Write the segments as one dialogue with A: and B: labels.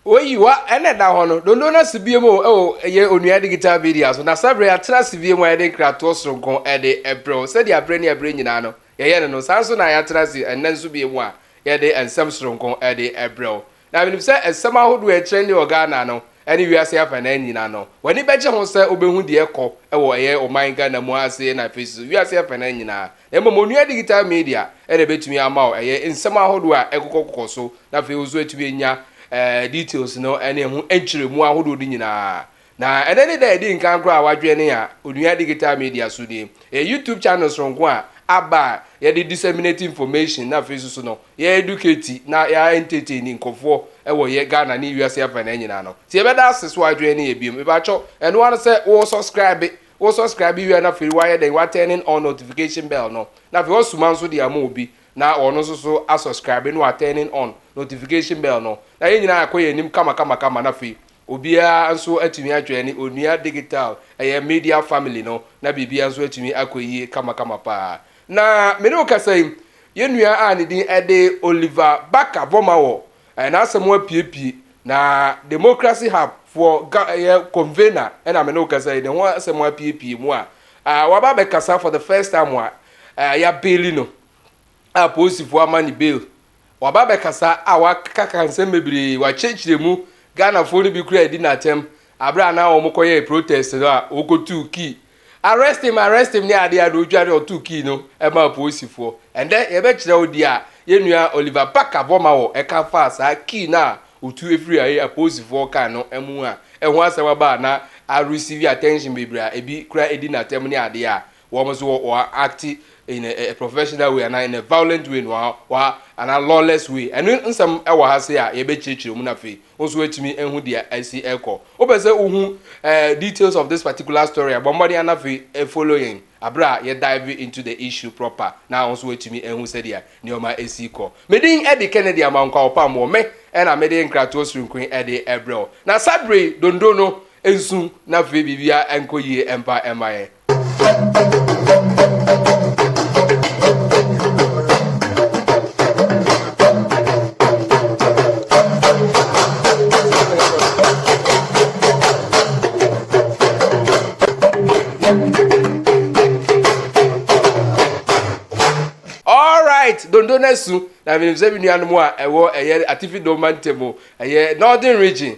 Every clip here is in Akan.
A: oyiwa ɛna ɛda hɔ no dondo no asi bio mu ɛwɔ ɛyɛ onua digital media so na sɛbere atena asi bio mu a yɛde nkratoɔ soronko ɛde ɛbrɛw sɛdeɛ abere ne abere nyinaa no Yɛyɛ no no, saa ara nso na yɛatena ase ɛnnɛ nso bio mu a yɛde nsɛm soronko de rebrɛ wo. Na menim sɛ nsɛm ahodoɔ a ɛkyerɛ nne wɔ Ghana no ne wiase afanan nyinaa no, w'ani bɛgye ho sɛ wobɛhu deɛ ɛrekɔ wɔ ɛyɛ ɔman Ghana mu ha sei na afei nso wiase afanan nyinaa. Na mmom Onua Digital Media na ɛbɛtumi ama wo ɛyɛ nsɛm ahodoɔ a ɛkokɔkokɔ so na afei wo nso woatumi anya details no ne ɛho nkyerɛmu ahodoɔ no nyinaa. Na ɛnɛ ne da a ɛdi nkan koraa a wadwene a onua digital media so nie. Ɛyɛ YouTube channel soronko a aba a yɛde disseminate information na afei nso so no yɛ educate na yɛ entertain nkɔfoɔ wɔ yɛ Ghana ne wiase afanaa nyinaa no. Nti yɛbɛda ase so wadwene ne yɛ biom. Mepakyɛw, ɛno ara ne sɛ wo subscribe, wo subscribe wie a na afei wayɛ dɛn wa turning on notification bell no na afei wasuma nso de ama obi na ɔno nso so asubscribe na wa turning on notification bell no na yɛn nyinaa akɔ yɛn anim kama kama kama na afei Obiara nso atumi adjoine Onua Digital, ɛyɛ Media Family no, na biribiara nso atumi akɔ yie kamakama paa. Na me ne wo kasa yi, yɛn nua a ne din de Oliver Barker-Vormawor, ɛɛ, n'asɛm apiepie, na Democracy Hub foɔ ga, ɛyɛ convener, ɛna me ne wo kasa yi, ne ho asɛm apiepie mu a, ɛɛ, waba abɛkasa for the first time a, ɛɛ, yɛabeeli no, a polisifoɔ ama ne bail. Waba abɛkasa a wakakaka nsɛm bebree, wakyerɛkyerɛ mu, Ghanafoɔ no bi koraa adi n'atɛm aberɛ a na wɔn kɔyɛɛ protest no a wɔkɔtuu kii arrest him arrest him ne adeɛ a na ɔdwa ne ɔtoo kii no ɛmaa apolisifoɔ. Ɛndɛ yɛbɛkyerɛ wo deɛ a yɛnua Oliver Barker Bomawo ɛka faa saa kii no a ɔtu ɛfiri a ɛyɛ apolisifoɔ kaa no mu a ɛho asɛm aba a na a receive attention bebree a ɛbi koraa ɛdi n'atɛm ne adeɛ a Wɔn nso wɔ wɔ acte in a, a professional way anaa in a violent way no wɔ anaa lawless way. Ɛno nsɛm wɔ ha sei a yɛbɛkyerɛkyerɛ mu na afei wo nso woatumi ahu deɛ asi rekɔ. Wopɛ sɛ wohu eh, details of this particular story a, bɔ mmɔden ana afei follow yɛn aberɛ a yɛ dive into the issue proper na wo nso woatumi ahu sɛdeɛ nneɛma asi kɔ. Medin de Kennedy Amah Nkwawopammoɔ, me ɛna mede nkratoɔ soronko yi de ɛbrɛ wo. Na saa berɛ yi, dondon no nsu na afei biribiara nkɔ yie mfa mma yɛn. right dondo no asu na menim sɛ me nuanom a ɛwɔ ɛyɛ atifi dɔma ntam ɛyɛ northern region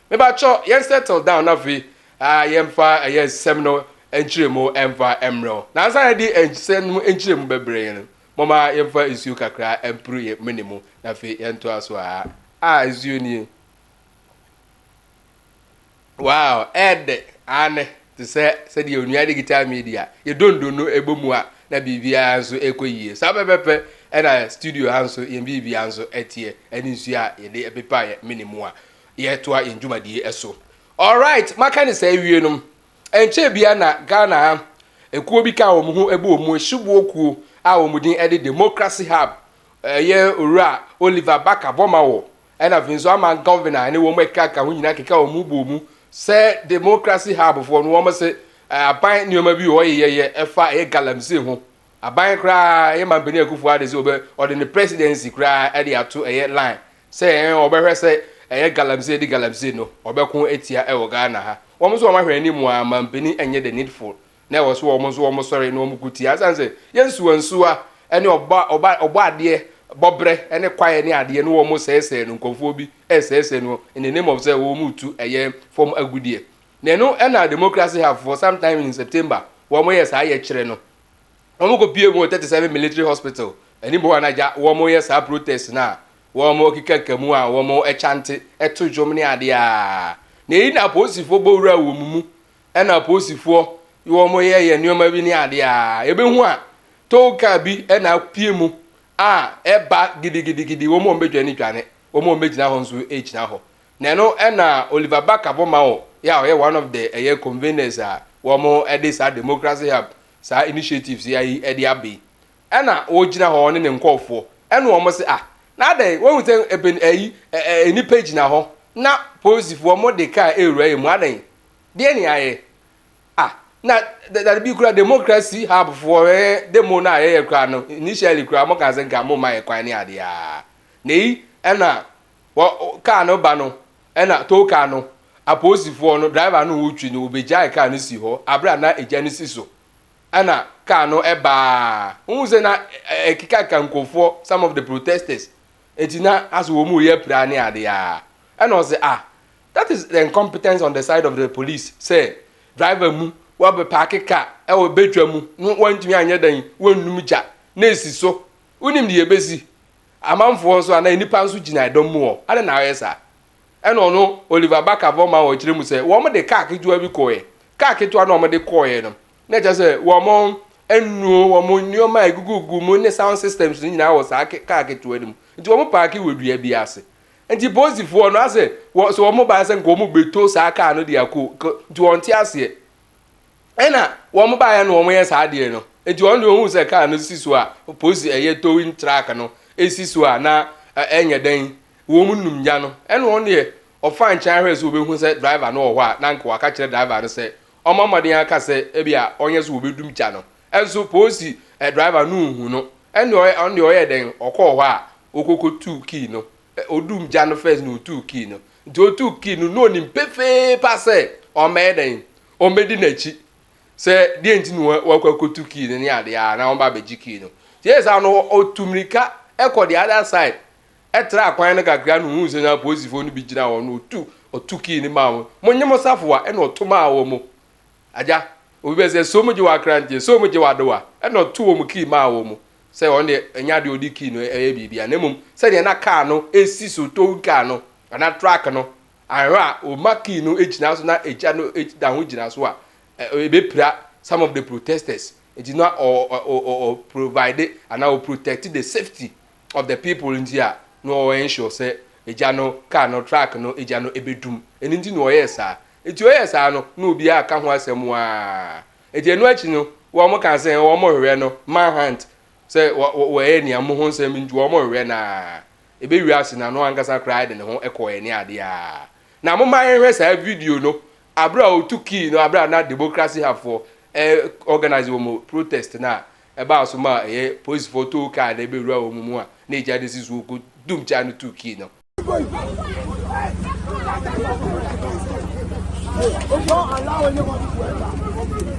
A: Mebakyɛw yɛn settle down na afei ah, yɛmfa ɛyɛ nsɛm no nkyerɛmu ɛmfa mmerɛw. Na ansa yɛde nsɛm no nkyerɛmu bɛbrɛ yɛn no, momma yɛmfa nsuo kakra mpuru yɛn mene mu na afei yɛntoa so aa. Ah, nsuo nie. Wow, ɛɛdɛ, aane, te sɛ sɛdeɛ onua digital media, yɛ dondo no ɛbɔ mu a, na biribiara nso ɛkɔ yie. Saa pɛpɛpɛ ɛna studio ha nso yɛn biribiara nso ɛteɛ, ɛne nsuo a yɛde ɛpepa yɛn mene mu a, yɛtoa yɛn dwumadie so. Alright, maka ne saa awie no, ɛnkyɛɛ biara na Ghana ha ekuo bi kaa wɔn ho bɔɔ mu, Shiboɔ kuo a wɔn din de Democracy Hub, ɛyɛ Owura Oliver Barker Bomawo ɛna afei nso Aman Gɔvena ɛne wɔn a ɛkeka ho nyinaa keka wɔn ho bɔɔ mu sɛ Democracy Hub foɔ no wɔn se aban nneɛma bi wɔ yɛyɛ ɛfa ɛyɛ galamsey ho. Aban koraa ɛyɛ Mampanin Akufo-Addo sɛ ɔbɛ ɔde ne presidency koraa ɛde ato ɛyɛ line Sɛ ɛɛ wɔbɛhwɛ sɛ ɛyɛ galamsey de galamsey no wɔbɛko atia wɔ Ghana ha. Wɔn nso wɔn ahwɛ anim ara mampanin nyɛ the needful na ɛwɔ so wɔn nso wɔn sɔre na wɔn ko tia asiane sɛ yɛ nsuwa nsuwa ne ɔbɔ ɔbɔ ɔbɔ adeɛ bɔbrɛ ne kwaeɛ ne adeɛ ne wɔn sɛɛsɛɛ no nkɔmfoɔ bi ɛsɛɛsɛɛ no in the name of sɛ wɔn mu tu ɛyɛ fam agudeɛ na ɛno ɛna democracy have for some time in September wɔn yɛ saa yɛkyerɛ no Wɔn kɔ pie mu wɔ 37 military hospital anim hɔ a na gya wɔn yɛ saa protest no a wɔn keka ka mu a wɔn kyante to dwom ne adeɛ a na eyi na apolisifoɔ bɔ wura wɔ wɔn mu ɛna apolisifoɔ wɔn yɛ yɛ nneɛma bi ne adeɛ a yɛbɛhu a tow car bi ɛna apue mu a ɛba gidigidigidi wɔn wɔn bɛdwa ne dwane wɔn wɔn bɛgyina hɔ nso ɛgyina hɔ na ɛno ɛna Oliver Barker bɔ ma wɔ yɛ a ɔyɛ one of the ɛyɛ conveners a wɔn ɛde saa democracy hub saa initiatives yi ayi ɛde aba yi ɛna ɔgyina hɔ ɔne ne nkɔɔfoɔ ɛna wɔn se ah na adɛn wɔn sɛ ɛbɛn ɛyi ɛɛ nipa gyina hɔ na polisifoɔ wɔn de kaa ɛwura yɛ mu adɛn deɛ ne ayɛ ah na dadabi kura democracy hub foɔ ɛɛ demo na ayɛyɛ kura no initially kura wɔn kan sɛ nka wɔn ma yɛ kwan ne adeɛ na yi ɛna Wɔ kaa no ba no na tow kaa no apolisifoɔ no driver no retwi no wɔbɛgyae kaa no si hɔ aberɛ a na egya no si so ɛna kaa no ɛbaa wohu sɛ na ɛkekaka nkurɔfoɔ some of the protesters enti na asɛ wɔn reyɛ pira ne adeɛ a ɛna ɔsɛ ah that is the incompetence on the side of the police sɛ driver mu wɔbɛpaake kaa ɛwɔ bɛtwa mu no wɔntumi anyɛ dɛn wɔnnum gya na esi so wonim deɛ ɛbɛsi Amanfoɔ nso anaa nnipa nso gyina ɛdɔm mu hɔ. Adɛn na wɔyɛ saa? Ɛna ɔno Oliver Barker-Von Maur kyerɛ mu sɛ, wɔn de kaa ketewa bi kɔeɛ. Kaa ketewa no a wɔde kɔeɛ no, na ɛkyerɛ sɛ wɔn nnuro, wɔn nneɛma a ɛgugugu mu ne sound systems no nyinaa wɔ saa kaa ketewa no mu. Nti wɔn paake wɔ dua bi ase. Nti polisifoɔ no asɛ, sɛ wɔn baeɛ sɛ nka wɔn bɛto saa kaa no de akɔ, nti wɔnte aseɛ. Ɛna wɔn baeɛ na wɔyɛ saa adeɛ no nti wɔn deɛ wɔn sɛ kaa no si so a polisi ɛyɛ towing truck no esi so a na ɛnyɛ dɛn wɔn num gya no ɛna wɔn deɛ ɔfa nkyɛn ahwɛ sɛ wɔbɛhu sɛ driver no wɔ hɔ a na nka waka kyerɛ driver no sɛ ɔmɔ mmɔden aka sɛ ebi a ɔnyɛ so wɔbɛdum gya no ɛnso polisi ɛ driver no nhu no ɛna wɔn deɛ ɔyɛ dɛn ɔkɔɔ hɔ a ɔkɔkɔ tu kii no ɔdum gya no first na ɔtu kii no nti ɔtu kii no na ɔnim pefee pa sɛ ɔmɛyɛ dɛn Wɔbɛdi n'akyi sɛ deɛ nti na wakɔ akɔtu key no ne adeɛ a na wɔba abɛgye key no. Nti yɛ saa no ɔtu mmirika kɔ the other side ɛtra akwan no kakra no ɔhuu sɛ na apolisifoɔ no bi gyina hɔ no ɔtu ɔtu key no maa wɔn. Monnye mo safoa ɛna ɔto maa wɔn. Agya, obi bɛ sɛ so mogye w'akranteɛ, so mogye w'adowa ɛna ɔto wɔn key maa wɔn sɛ wɔn deɛ ɛnyɛ adeɛ ɔde key no ɛyɛ biribi a na mmom sɛdeɛ na kaa no ɛsi so towing car no anaa truck no Anhwɛ a, wo mma key no gyina so na agya no da ho gyina so a, ebepira some of the protesters. Nti na ɔ ɔ ɔ ɔ provide anaa ɔ protect the safety of the people nti a na ɔ ensure sɛ agya no car no, truck no, agya no ebedum. Ɛno nti na ɔyɛɛ saa. Nti ɔyɛɛ saa no na obiara ka ho asɛm waa. Nti ɛno akyi no wɔn kaa sɛ wɔn hwehwɛ no manhunt sɛ wɔ wɔ wɔyɛ nea mo ho nsɛm nti wɔn hwehwɛ no ara. ɛbɛ wiase na no ankasa koraa de ne ho kɔɔɛ ne adeɛ a. Na momma yɛnhwɛ saa video no aberɛ a ɔtu kii no aberɛ a na democracy hub foɔ organise wɔn protest no a ɛbaa so ma ɛyɛ police foɔ too kaa no ɛbɛ wura wɔn mu a na ɛgya de si so ɔkɔ dum kyaa no tu kii no. Don't allow anyone to enter.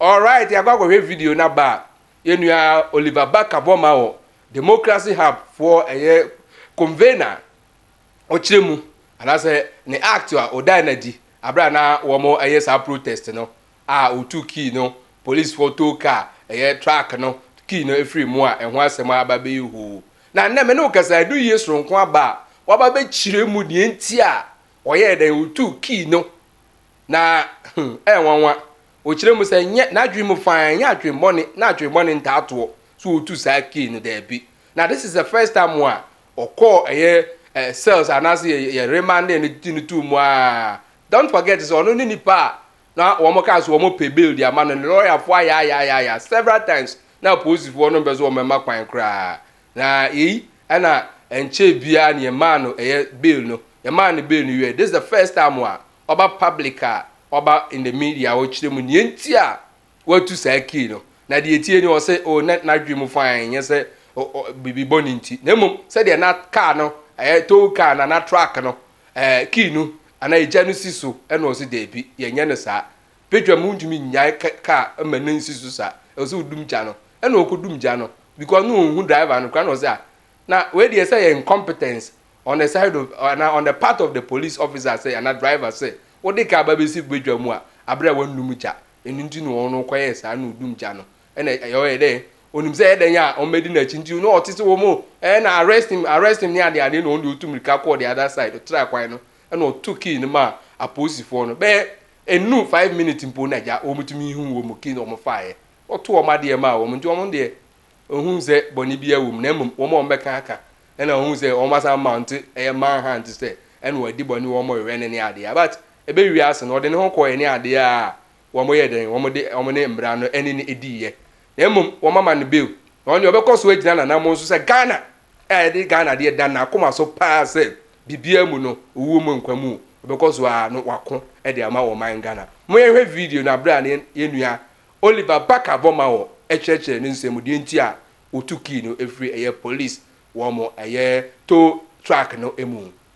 B: Alright
A: yɛakɔ akɔhwɛ video no aba a, yɛn nua Oliver Barker bɔ ma wɔ Democracy Hub foɔ ɛyɛ convener a ɔkyerɛ mu anaasɛ ne act a ɔdae no adi aberɛ a na wɔn ɛyɛ saa protest no a ɔtuu key no police foɔ tow car ɛyɛ truck no key no ɛfiri mu a ɛho asɛm a aba bɛyɛ hoo na nnɛ me ne wo kasa ɛdu yie soronko aba a waba bɛkyerɛ mu deɛ nti a ɔyɛɛ dɛn ɔtuu key no na hmm, ɛyɛ nwanwa. Ɔkyerɛ mu sɛ nyɛ n'adwene mu fine, nyɛ adwemmɔne, na adwemmɔne ntaa toɔ. So ɔtu saa key no? Daabi. Na this is the first time a ɔkɔɔ ɛyɛ eh, cells anaasɛ yɛ, yɛ remanding no ti no tuu mu a. Don't forget sɛ ɔno ne nipa a na wɔn kaa so wɔn pɛ bail de ama no, ne lɔyafoɔ ayaayaayaayaa several times na apolisifoɔ no mpɛ so wɔn mma kwan koraa. Na yei ɛna ɛnkyɛɛ biaa na yɛmaa no ɛyɛ bail no, yɛmaa no bail no wieɛ, this is the first time a ɔba public a ɔba in the media a ɔkyerɛ mu neɛ nti a watu saa key no, na deɛ ɛteɛ nie ɔse oh na n'adwene mu fine ɛnyɛ sɛ biribi bɔne nti na mmom sɛdeɛ na car no ɛyɛ tow car no anaa truck no ɛɛ key no anaa egya no si so ɛna ɔse daabi yɛnyɛ no saa Petra mu ntumi nnyae ka kaa ma no nsi so saa. Ɛwɔ sɛ odum gya no. Ɛna ɔkɔdum gya no because na ɔnhu driver no koraa na ɔsɛ a na wei deɛ sɛ yɛ incompetence on the side of anaa on the part of the police officer sɛ anaa driver sɛ wode kaa ba bɛsi badwa mu a aberɛ a wannum gya. Ɛno nti na ɔno kɔyɛɛ saa na ɔdum gya no. Ɛna ɔyɛ dɛ ɔnim sɛ ɛyɛ dɛn a wɔbɛdi n'akyi nti na ɔte sɛ wɔn o ɛɛ na arrest him arrest him ne adeɛ adeɛ na ɔno deɛ ɔtu mmirika kɔɔ the other side ɔtraa kwan no ɛna ɔto key no maa apolisifoɔ no bɛyɛ Ennuu five minutes mpo na gya wɔn tumi huu wɔn mu kii na wɔn faeɛ. Wɔto wɔn adeɛ maa wɔn nti wɔn deɛ wɔnhuu sɛ bɔne biara wɔ mu na mmom wɔn a wɔbɛka aka na wɔhuu sɛ wɔn asan mount ɛyɛ man hunt sɛ ɛna wɔadi bɔne wɔn wɛn no ne adeɛ a but ɛbɛwie ase no ɔde ne ho kɔeɛ ne adeɛ a wɔn yɛɛ dɛn wɔn de wɔn ne mmara no ɛne no diiɛ na mmom wɔn ama no bail na wɔn deɛ ɔbɛkɔ so agyina n'anamon so sɛ Ghana a ɛde Ghana deɛ da n'akoma so paa sɛ biribiara mu no, owuo mu nkwa mu, ɔbɛkɔ so ara no wako de ama ɔman Ghana. Mo yɛnhwɛ video no berɛ a ne yɛn nua Oliver Barker bɔ ma wɔ kyerɛkyerɛ ne nsɛm mu deɛ nti a wɔtu kii no firi ɛyɛ police wɔn ɛyɛ tow truck no mu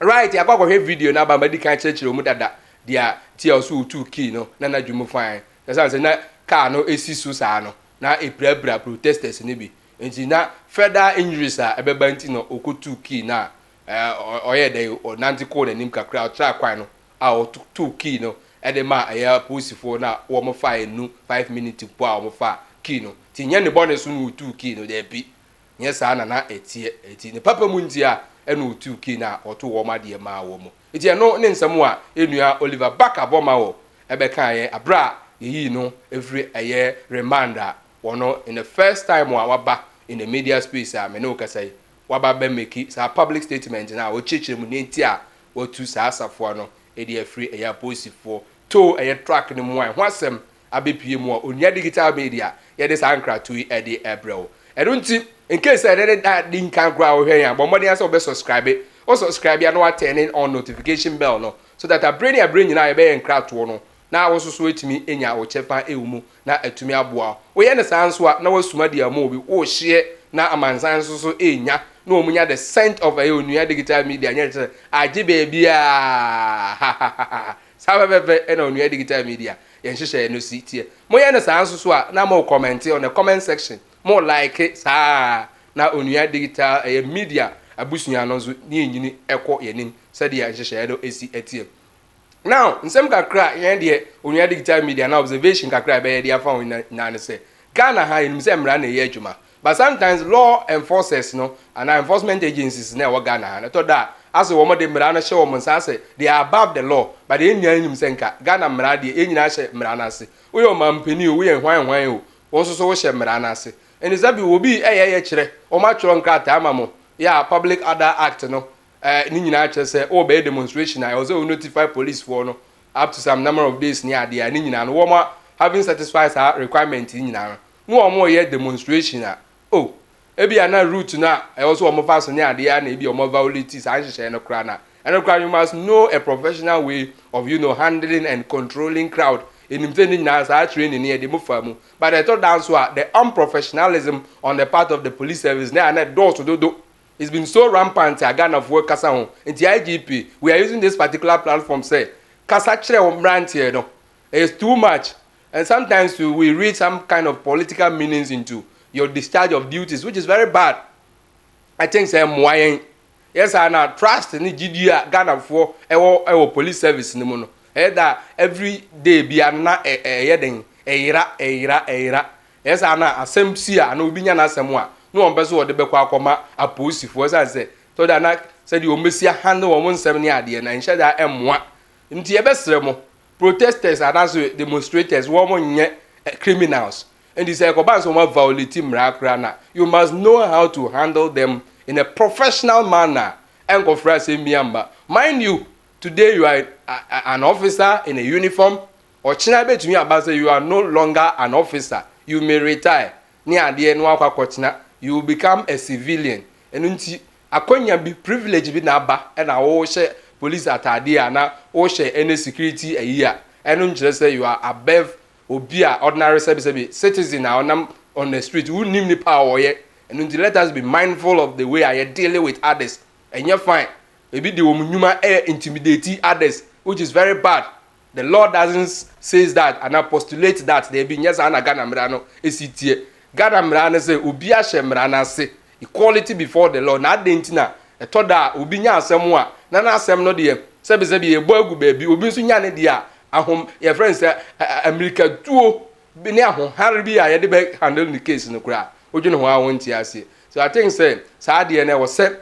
C: Right,
A: yɛakɔ akɔhwɛ video no aba madi kan kyerɛkyerɛ mu dada deɛ nti a ɔso wotuu kii no na n'adwene mu fann. Ɛsiane sɛ na kaa no si so saa no, na ɛpirapira protesters no bi. Nti na further injuries a ɛbɛba nti na ɔkɔtuu kii no a ɔyɛɛ dɛn, ɔnante kɔɔ n'anim kakra, ɔtraa kwan no a ɔtoo kii no de maa ɛyɛ apolisifoɔ no a wɔfaeɛ no five minutes mpo a wɔfaa kii no. Nti nyɛ ne bɔne so na ɔtuu kii no, daabi. Nyɛ saa na na ɛteɛ. Enti ne papa mu ntia na ɔtuu Cain a ɔtoo wɔn adeɛ maa wɔn. Enti ɛno ne nsɛm a yɛnnua Oliver Barker bɔ ma wɔ bɛkaa yɛ aberɛ a yɛyii no firi ɛyɛ remand a wɔno in the first time a waba in the media space a me ne wo kasa yi waba bɛ meki saa public statement no a ɔkyerɛkyerɛ mu deɛ nti a watu saa safoa no ɛde afiri ɛyɛ aposifoɔ too ɛyɛ track no mu a ɛho asɛm abepue mu a, onua digital media yɛde saa nkratoɔ yi ɛde ɛbrɛ wo. Ɛno nti, in case sɛ ɛnɛ ne da di nkan koraa wohwɛ yɛn a, bɔ mmɔden ara sɛ wobɛ subscribe. Wo subscribe a na wa turn on notification bell no so that abere ne abere nyinaa yɛbɛyɛ nkratoɔ no na wo nso so watumi anya wo kyɛfa ɛwɔ mu na atumi aboa wo. Woyɛ no saa nso a na wasuma deɛ ama obi wohyeɛ na amansan nso so ɛnya na wɔn nya the scent of ɛyɛ onua digital media nyɛ sɛ agye baabiara hahahahahah. Saa pɛpɛpɛ na Onua Digital Media yɛ nhyehyɛɛ no si teɛ. Mo yɛ no saa nso so a na mo kɔmɛnte on the comment section, mo like saa ara na Onua Digital ɛyɛ Media abusua no nso ne ɛnyini ɛkɔ yɛn anim sɛdeɛ nhyehyɛɛ no si teɛ. Now nsɛm kakra a yɛn deɛ Onua Digital Media anaa observation kakra a yɛbɛyɛ de afa ho nyinaa ne sɛ, Ghana ha yɛnim sɛ mmara na ɛyɛ adwuma, But sometimes law enforcers no anaa enforcement agencies no a ɛwɔ Ghana ha no, ɛtɔ da a, ase wɔn de mmara no hyɛ wɔn nsa ase, they are above the law, but yɛn nyinaa nim sɛ nka Ghana mmara deɛ, yɛn nyinaa hyɛ mmara no ase. Woyɛ ɔmampanin o, woyɛ hwan hwan o, wo nso so wohyɛ mmara no ase. Ɛnti sɛ bi obi ɛyɛ yɛ kyerɛ, wɔatwerɛ nkrataa ama mo, yɛ a Public Order Act no eh, ne nyinaa kyerɛ sɛ wɔrebɛyɛ demonstration a, ɛwɔ sɛ wo notify police foɔ no up to some number of days ne adeɛ a, ne nyinaa no wɔn having satisfy saa requirement yi nyinaa no, ne wɔn reyɛ demonstration a, oh, ebia na route no a ɛwɔ so wɔfa so ne adeɛ a na ebi wɔn violate saa nhyehyɛe no koraa na ɛno koraa you must know a professional way of you know handling and controlling crowd enim sɛ ne nyinaa saa training no yɛde mo fa mu but ɛtɔ da nso a the unprofessionalism on the part of the police service na ɛna ɛdɔɔso dodo it's been so rampant a Ghanafoɔ kasa ho nti IGP we are using this particular platform sɛ kasa kyerɛ wɔn mmeranteɛ no it's too much And sometimes too we read some kind of political meanings into your discharge of duties which is very bad. I think sɛ mmoa yɛn yɛ saa na trust ne gyidie a Ghanafoɔ ɛwɔ ɛwɔ police service no mu no ɛyɛ da every day bia no na ɛyɛ den ɛyera ɛyera ɛyera ɛyɛ saa na asɛm si a na obi nya n'asɛm a na wɔn pɛ so wɔde bɛkɔ akɔma apolisifoɔ ɛsan sɛ so da na sɛdeɛ wɔn bɛsi ahandle wɔn nsɛm ne adeɛ na nhyɛ da ɛmmoa nti yɛbɛsrɛ mo Protesters anaso demonstrators wɔn nyɛ criminals nti sɛ ɛkɔba nso wɔn violate mmara koraa na you must know how to handle them in a professional manner ɛnkɔfra asɛm bi amba mind you today you are an officer in a uniform ɔkyena bɛtumi aba sɛ you are no longer an officer you may retire ne adeɛ na wakɔ akɔkyena you will become a civilian ɛno nti Akwanya bi, privilege bi na aba na wo hyɛ police ataade a na wo hyɛ any security ayi a, ɛno nkyerɛ sɛ you are above obi a ordinary sɛbi sɛbi citizen a ɔnam on the street, wo nnim nipa a ɔyɛ. Ɛno nti let us be mindful of the way a yɛ deal with others. Ɛnyɛ fine. Ebi de wɔn nnwuma ɛ intimidate others which is very bad. The law doesn't says that anaa postulate that, daabi, nyɛ saa na Ghana mmara no si teɛ. Ghana mmara no sɛ obiara hyɛ mmara no ase, equality before the law, na adɛn nti na ɛtɔ da a obi nya asɛm a, na n'asɛm no deɛ, sɛbesɛbe yɛbɔ agu baabi, obi nso nya ne deɛ a, ahom, yɛfrɛ no sɛ ammirikatuo bi ne ahohare bi a yɛde bɛ handle ne case no koraa, wodwene ho ara wonte aseɛ. So I think sɛ saa adeɛ no ɛwɔ sɛ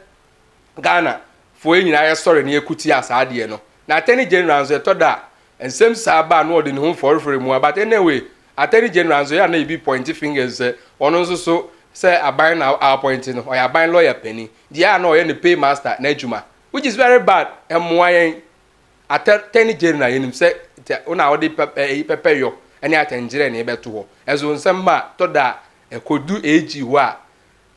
A: Ghana foɔ yi nyinaa yɛ sɔre na yɛ ko tia saa adeɛ no na Attorney General nso ɛtɔ da a nsɛm saa ba a na ɔde ne ho fɔrefɔre mu a but ɛnɛ wei Attorney General nso yɛ a na yɛbi pointi fingers sɛ ɔno nso so sɛ aban na appointi no ɔyɛ aban lawyer panin deɛ a na ɔyɛ ne pay master n'adwuma which is very bad ɛmmoa yɛn Attorney General yɛnim sɛ tɛ wo na ɔde pɛ ɛyi pɛpɛ yɔ ɛne atɛngyerɛ na ɛbɛto hɔ ɛso nsɛm ba a tɔ da a ɛkɔdu AG hɔ a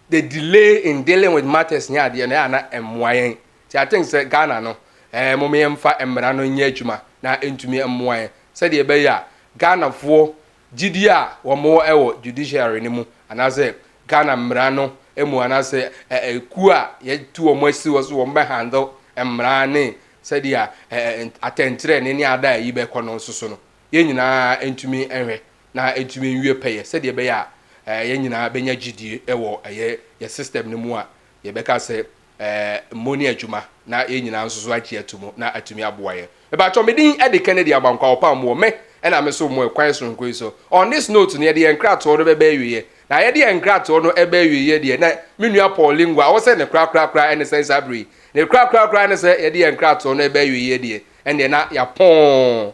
A: the delay in dealing with matters ne adeɛ no ɛyɛ a na ɛmmoa yɛn nti I think sɛ Ghana no ɛɛ eh, mom yɛmfa mmara no nyɛ adwuma na ɛntumi mmoa yɛn sɛdeɛ ɛbɛyɛ a Ghanafoɔ gyidie a wɔn wɔ ɛwɔ judiciary no mu anaasɛ Ghana mmara no mu anaasɛ ɛkuo a yɛtu wɔn asi hɔ so wɔn bɛ handle mmara ne sɛdeɛ atɛnkyerɛ ne ne ada a ɛyi bɛkɔ no nso so no yɛn nyinaa ntumi nhwɛ na entumi nwie pɛyɛ sɛdeɛ ɛbɛyɛ a yɛn nyinaa bɛnya gyidie wɔ ɛyɛ yɛn system no mu a yɛbɛka sɛ mmɔ ne adwuma na yɛn nyinaa nso so agye ato mu na atumi aboa yɛn. Mebaatɔ me din de Kennedy Abankwa Opam Moore me ɛna me so mo ɛkwan soronko yi so. On this note no yɛde yɛn nkratoɔ no bɛba awieɛ na yɛde yɛn nkratoɔ no ɛba awieɛ deɛ na me nua Paul Lingua ɔwɔ sɛ ne korakorakora ɛne sɛn saa berɛ yi? Ne korakorakora ɛne sɛ yɛde yɛn nkratoɔ no ɛba awieɛ deɛ Ɛnneɛ na yɛapɔn.